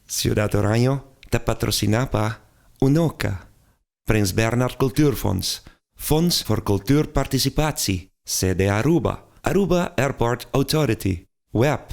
Ciudad Oranje ta patrociná pa, Unoca, Prins Bernhard Cultuurfonds, Fonds voor Cultuur Participatie, CDAruba, Aruba Airport Authority, WEAP,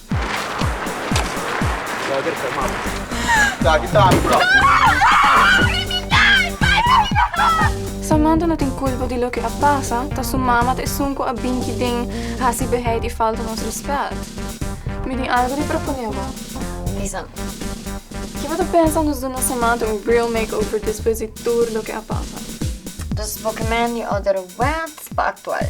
Samantha no tin culpa di loke a pasa, ta su mama ta esun cu a binchi den haci beheid y falta nos respet. Mi tin algo di propone bo. Bisa mi. Ki bo ta pensa nos duna Samantha un real makeover despues di tur loke a pasa? Dus bo ke mende order wet pa actual.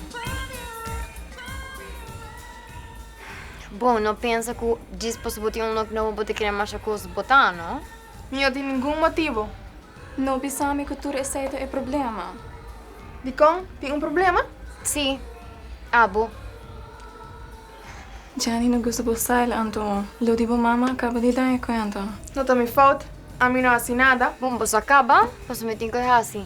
Bon, no pensa cu djis pasobra bo tin un nok nobo bo ta kere masha cos botá, no? Mi no tin ningun motibo. No bisa mi cu tur esey ta e problema. Dicon? Tin un problema? Sí, abo. Djani no gusta bo style anto lo di bo mama a caba di dan e cuenta. No ta mi fout. Ami no haci nada. Bon, boso a caba pasobra mi tin cu e haci.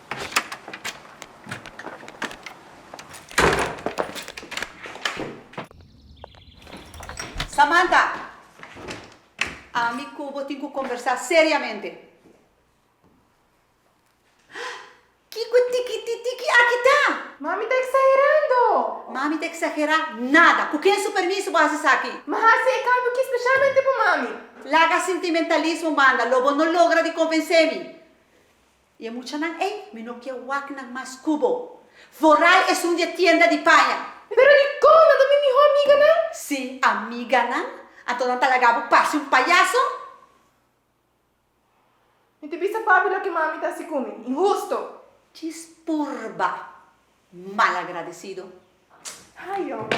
Samantha! Ami ku bo tin ku kombersá seriamente. Kiko e tikititiki aki ta? Mami ta eksagerando! Mami ta eksagerá nada! Ku ken su permiso bo hasi esaki? Mi hasi e kambio ki speshalmente pa mami. Laga sintimentalismo banda, lo bo no logra di konvensé mi. I e muchanan ei, mi no ke wak nan mas ku bo. Vorai esun di e tienda di paña. Pero dikon? Nan ta mi mihó amiganan? Si, amiganan? Anto nan ta laga bo parse un payaso? Mi ta bisa papi loke mami ta hasi ku mi. Inhusto! Ki spurba! Malagradecido. Ay hombre.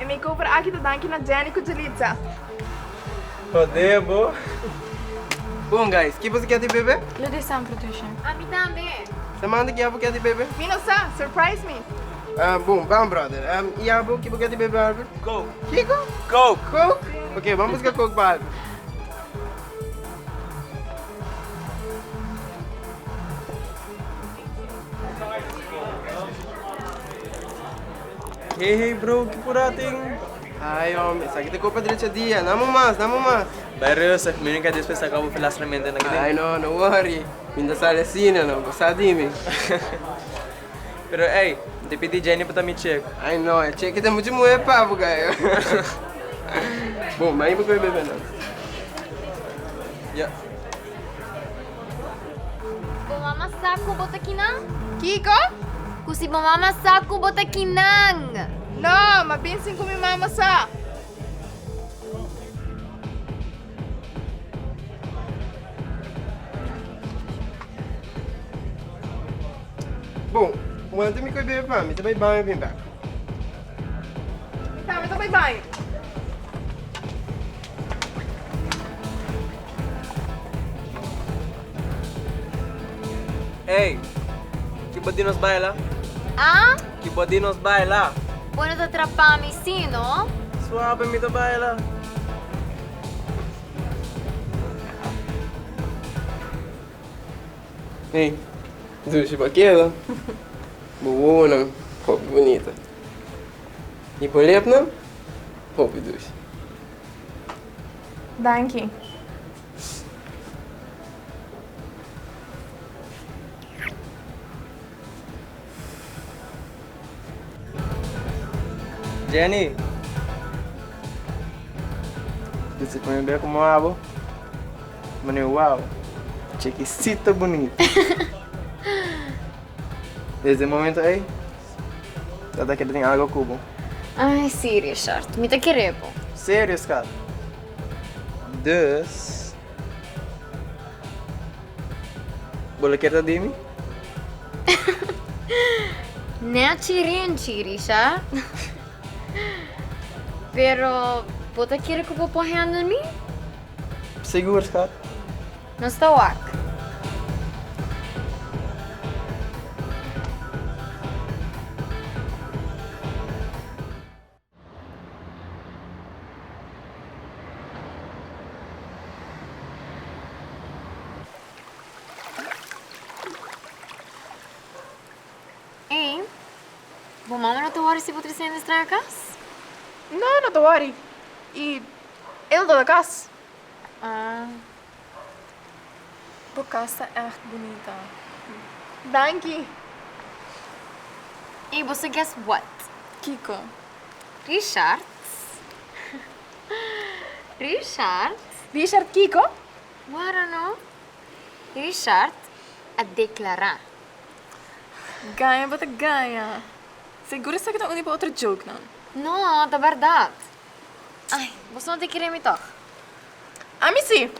E makeover aki ta danki na Jenny ku Julitza. Jodé bo. Bon guys, ki boso kier di bebe? Lo di Sam Patricia. A mi tambe. Samantha ki abo kier di bebe? Mi no sa, surprise mi. Bon, bam brother. I abo ki bo kier di bebe Albert? Coke. Kiko? Coke. Coke? Ok, bam buska coke pa Albert. Hey hey bro ki por a tin. Ay hombre esaki ta copia derecha dia na mo mas na mo mas. Bay rustig mi no ke despues saca bo filastramente na kibin. Ay no no worry mi ta sali asina no bo sa di mi. Pero ey mi ta pidi Jenny pa ta mi check. Ay no e check ta mucha muhe pa bo gayo. Bo mai bo coge bebe no. Ya. Bo mama sa cu bo ta kinan? Kico? Cu si bo mama sa cu bo ta kinan? No, ma bin sin cu mi mama sa. Bon, wanta mi coi bebe pa mi ta bay baño bin bek. Mi tambe ta bay baño. Ey! Ki bo di nos baila? Ah? Ki bo di nos baila? Bo no ta trapá mi sí, no? Suabe mi ta baila. Ey! Dushi pa keda. Bo wowonan hopi bunita. I bo lepnan hopi dushi. Danki. Jenny. Disi pa mi be komo a bo. Mane wow. Chekisita bunita. Desde e momento ey. Tata ke drin ago ku bo. Ai si Richard, mi ta kere bo. Serio skat? Dus bo lo ker ta di mi? Nechi Renchi Richard. Pero bo ta kere ku bo por handle mi? Sigur skat. Nos ta wak. Ey, bo mama no ta worry si bo triciendo es traha cas? No, no ta worry. Y el no ta cas. Ahh bo kas ta ègt bunita. Danki! Ey bo sa guess what? Kiko? Richard? Richard? Richard kiko? Wara no? Richard a deklará. Gaña bo ta gaña. Segur esaki ta uni pa otro joke nan. No, ta bèrdat. Ay, boso no tin kere mi tog? Ami si!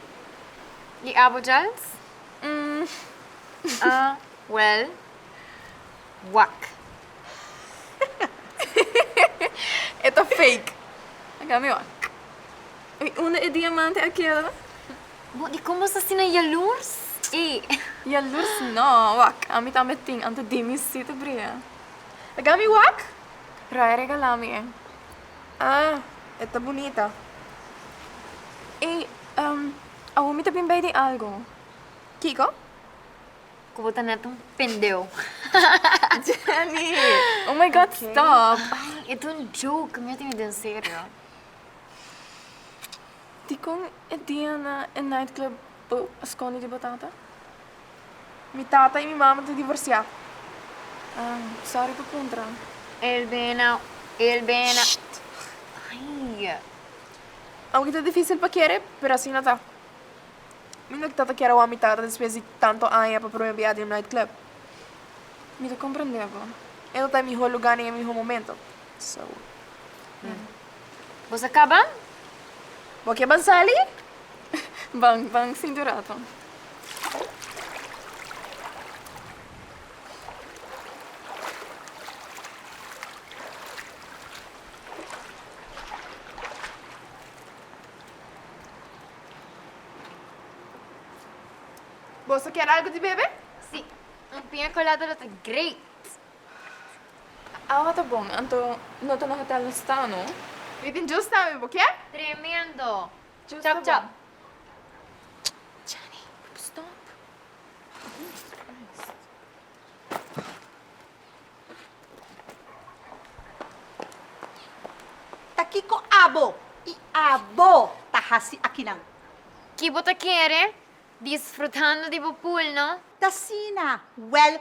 Y abo Giles? Umm, ah, well, wak. E ta fake. A cambio mi wak. Y unda e diamante a keda? Bo, di con bo sa asina yalurs? Ey! Yalurs no, wak. Ami tambe tin, anto di mi si ta bria. A cambio mi wak? Ray a regala mi e. Ah, e ta bunita. Ey, um, awor mi ta bin bay di algo. Kiko? Cu bo ta net un pendeu. Jenny! Oh my god, okay. stop! Ay, e ta un joke, mi a timi den serio. Di con e dia na e nightclub bo a scondi di bo tata? Mi tata i mi mama ta divorsiá. Ah, sorry pa puntra. El bena, el bena. Ai. Aunke ta difícil pa kere, pero asina ta. Mi no ta ta kere wak mi tata despues di tanto aña pa promé bia den un nightclub. Mi ta komprendé bo. E no ta e mihó lugá nen e mihó momento. So. Bos a kaba? Bo ke ban sali? Ban, ban sinti un rato. Bos a kier algu di bebe? Si, un piña colada lo ta great! Awa ta bon, anto no ta na hotel nos sta no. Mi tin djus tambe, bo kier? Tremendo! Djus ta bon. Chani, stop! Jesus Christ! Ta kico abo y abo ta haci akinan? Ki bo ta kere? Disfrutando di bo pool no? T'asina, well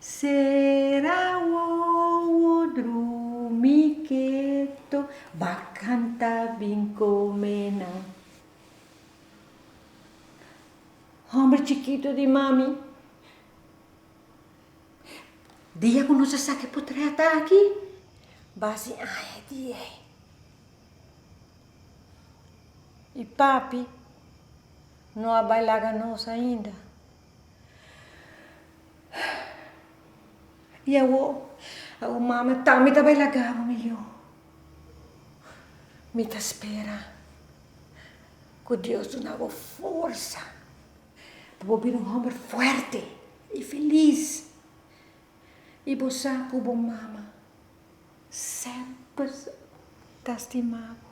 Sera wowo drumi keto. Ba kanta bin kome nan. Homber chikitu di mami. Dia ku nos a sa ki por trata aki. Ba si ai e dia ei. I papi no a bai laga nos ainda. Y awor, awor mami a tami ta bai laga bo mi yu. Mi ta spera ku Dios duna bo forsa pa bo bira un hòmber fuerte y felis. Y bo sa ku bo mama Semper ta stima bo.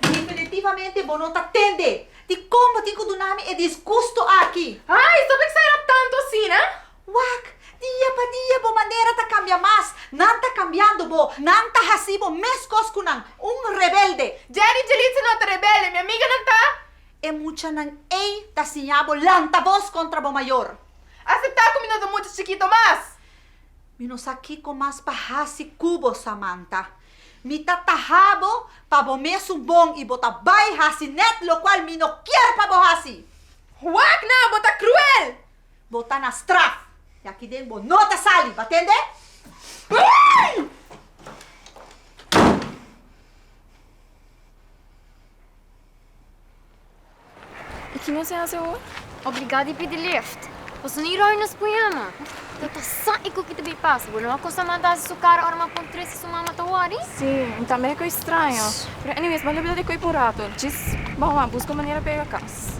Definitivamente bo no ta tende di kon bo tin ku duna mi e disgusto aki. Ay! Sa por exagerá tanto asina? Wak! Dia pa dia bo manera ta cambia mas. Nan ta cambiando bo. Nan ta haci bo mescos cu nan. Un rebelde. Jerry y Yelitza no ta rebelde. Mi amiganan ta. E muchanan ey ta siña bo lanta voz contra bo mayor. Acepta cu mi no ta mucha chikito mas. Mi no sa kico mas pa haci cu bo, Samantha. Mi ta taha bo pa bo mesun bon y bo ta bay haci net locual mi no kier pa bo haci. Wak! Nan bo ta cruel! Bo ta na straf. Di aki den bo no ta sali. Bo a tende? I ki nos a hasi awor? Obligá di pidi lift. Pasobra no i ròi nos pujama. Ta ta sa i ku ki ta bai pasa. Bo no a kosa manta hasi su kara ora m'a pon tres si su mama ta wòri? Sí, mi tambe a koi straña. Pero anyways, bo a lebel di koi pa un rato. Djis bo a wak buska un manera pega kas.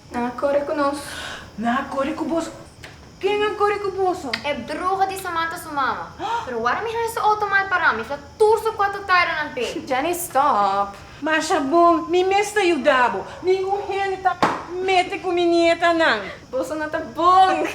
Nan a kore ku nos. Nan a kore ku boso. Ken a kore ku boso? E bruha di Samantha su mama. Pero wara mi haña su outo mal pará, mi fla tur su kuato taironan p'e. Jenny, Stop! Masha bon, mi mes ta yuda bo. Mi un hende ta mete ku mi nietanan. Boso no ta bon!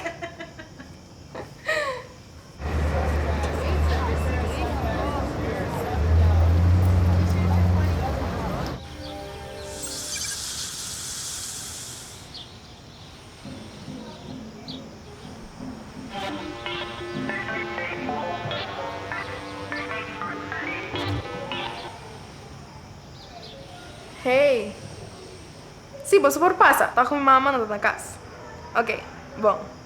Hey! Sí, boso por pasa, ta cu mi mama no ta na cas. Ok, bon.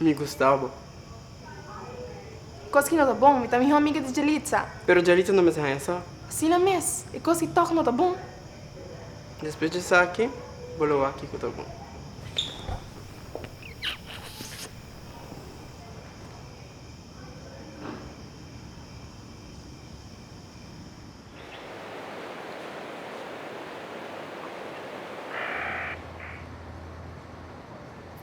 Mi gusta bo. Kos ki no ta bon. Mi ta mihó amiga di Yelitza. Pero Yelitza no mester haña sa. Asina mes. E kos ki tòg no ta bon. Despues di esaki bo lo wak kiko ta bon.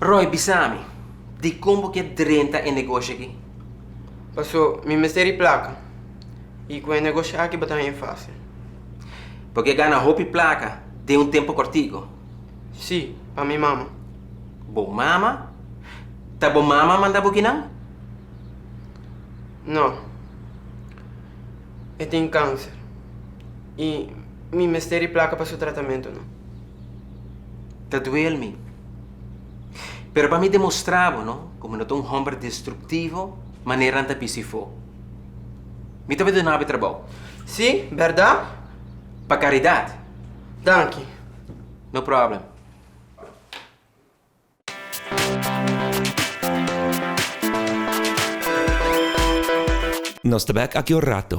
Roy, bisa mi, dikon bo ke drenta e negoshi aki? Paso mi mester e plaka, i ku e negoshi aki bo ta haña fasil. Bo ke gana hopi plaka den un tempu kòrtiku? Sí, pa mi mama. Bo mama? Ta bo mama manda bo kinan? No, e tin kanser. y mi mester e placa pa su tratamento no. Ta duel mi. Pero pa mi demostra bo no cu mi no ta un homber destructivo manera nan ta bici fo. Mi ta bay duna bo e trabao. Si, berdad? Pa caridad. Danki. No problem. Nos ta bek aki un rato.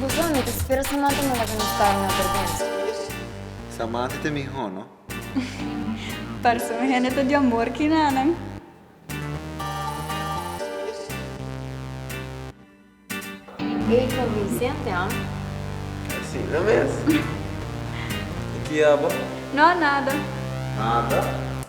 Bujo, mi ta spera Samantha no laga nos karo na vergwensa. Samantha ta mihó, no? Parse un hende ta diamor ki nanan. Ey convincente, ha? Asina mes. E ki abo? No, nada. Nada?